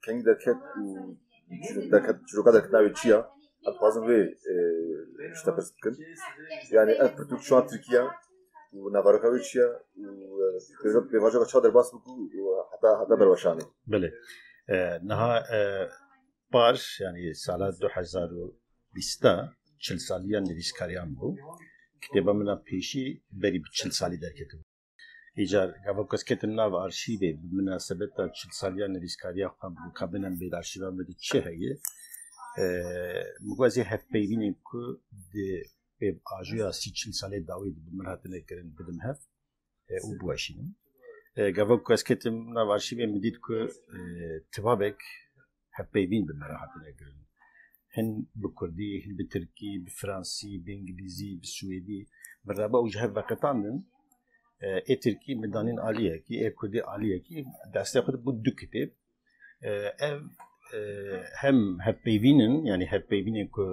Kengî derket û derket çiroka derket navê çi ya? Em dixwazin vê ji te pirs bikin. Yanî ev pirtûk çûna Tirkiye û navbaroka wê çi ye û pêvajoka çawa derbas bû ku heta heta berweşanê? Belê. Niha par yanî sala du hezar û bîst de çil saliya nivîskariyan bû. Kitêba min a pêşî berî bi çil salî derketibû. Îcar gava ku ez ketim nav arşîvê bi minasebeta çil saliya nivîskariya xwe bû ka binem bê di arşîva me de çi heye. Min got ez ê hevpeyvînên ku di pêvajoya sî çil salê dawî di bi min hatine kirin bidim hev. û biweşînim. Gavok ku ez ketim nav arşîvê min dît ku tibabek hevpeyvîn bi me re hatine kirin. Hin bi kurdî, hin bi tirkî, bi fransî, bi îngilîzî, bi swêdî min re ba û ji hev veqetandin. Ê tirkî min danîn aliyekî, ê kurdî aliyekî. Destê xwe de bû du kitêb. Ev hem hevpeyvîn in, yanî hevpeyvînên ku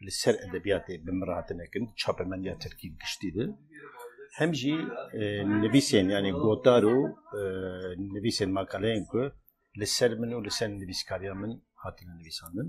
li ser edebiyatê bi min re hatine kirin di çapemendiya tirkî giştî de, hem jî nivîsên yanî gotar û nivîsên makaleyên ku li ser min û li ser nivîskariya min hatine nivîsandin.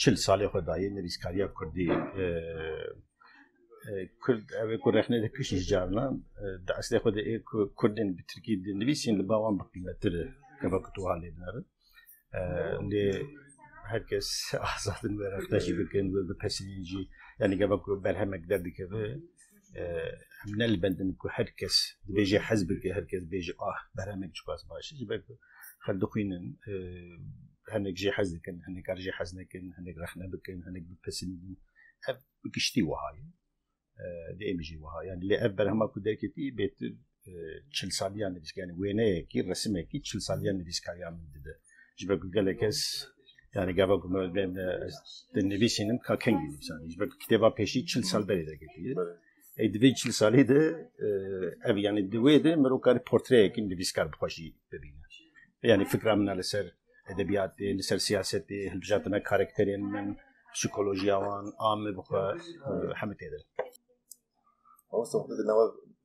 çil salê xwe dayê nivîskariya kurdî. Kurd ew ê ku rexne dike ji carinan di eslê xwe de ê ku kurdên bi tirkî dinivîsîn li ba wan bi qîmettir e gava ku tu wiha lê binerin. Lê her kes azad in wê rexne jî bikin wê bipesivîn jî yanî gava ku berhemek derdikeve em ne li bendin ku her kes dibêje hez bike her kes bêje ah berhemek çiqas baş ji ber ku xel dixwînin hinek jê hez dikin hinek kar jê hez nekin hinek rexne bikin hinek bipisindin ev bi giştî wiha ye dê em jî wiha yani lê ev berhema ku derketî bêtir çil saliya nivîskanî wêneyekî resimekî çil saliya nivîskariya min dide ji ber ku gelek kes yani gava ku di nivîsînim ka kengî nivîsanî ji ber kitêba pêşî çil sal berê derketiye ey di vê çil salî de ev yani di wê de mirov karî portreyekî nivîskar bi xwe jî bibîne yani fikra min li ser edebiyatê li ser siyasetê hilbijartina karakterên min psikolojiya wan a min bi xwe hemû têde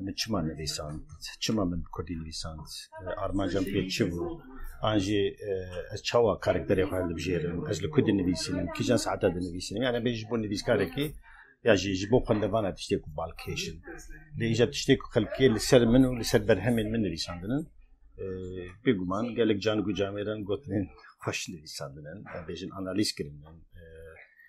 Min çima nivîsand? Çima min bi kurdî nivîsand? Armanca min pê çi bû? An jî ez çawa karakterê xwe hilbijêrim? Ez li ku dinivîsînim? Kîjan saeta dinivîsînim? Yan em bê ji bo nivîskarekî ya jî ji bo xwendevana tiştê ku bal kêşin. Lê îcar tiştê ku xelkê li ser min û li ser berhemên min nivîsandinin bêguman gelek cangûcamêran gotinên xweş nivîsandinin. Em bêjin analîz kirinin.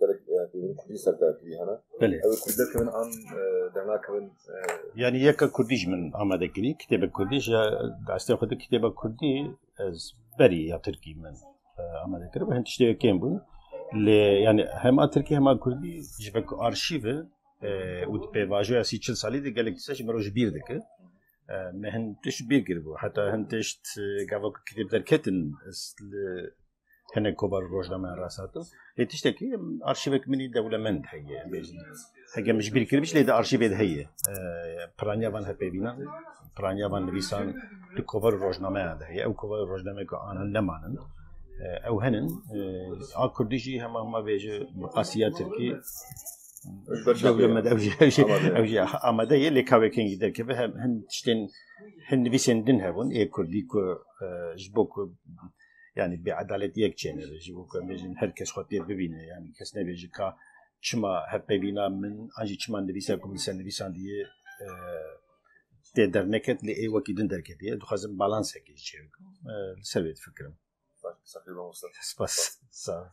Gelek pêvîn kurdî ser derkirî hene. Belê. Ew kurdî derkevin an dernakevin. Yani yeka kurdî ji min amade kirî kitêbek kurdî ji destê xwe di kitêba kurdî ez berî ya tirkî min amade kiribû hin tiştê kêm bûn. Lê yani hema tirkî hema kurdî ji vek arşîv e û di pêvajoya sî çil salî de gelek tişt ji mirov ji bîr dike. Me hin tişt bîr kiribû heta hin tişt gava ku kitêb derketin ez li hinek kovar û rojnameyan rasatin. Lê tiştekî arşîvek min î dewlemend heye em bêjin. Heke min ji bîr kiribû jî lê di arşîvê de heye. Piraniya van hevpêvînan, piraniya van nivîsan di kovar û rojnameyan de heye. Ew kovar û rojnameyan ku anan nemanin ew henin. A kurdî jî hema hema vê ji bi qasîya tirkî dewlemend ew jî ew jî ew jî amade ye lê kawekên jî derkeve hin tiştên hin nivîsên din hebûn ê kurdî ku ji bo ku yani bêedaletiyek çêne ve ji bo ku em bêjin her kes xwe tê bibîne yani kes nebêje ka çima hev pevîna min an jî çima nivîsa ku min ser nivîsan diye tê derneket lê ê wekî din derketiye dixwazim balansekê ji çêbikim li ser vê difikirim Spas. Sağ.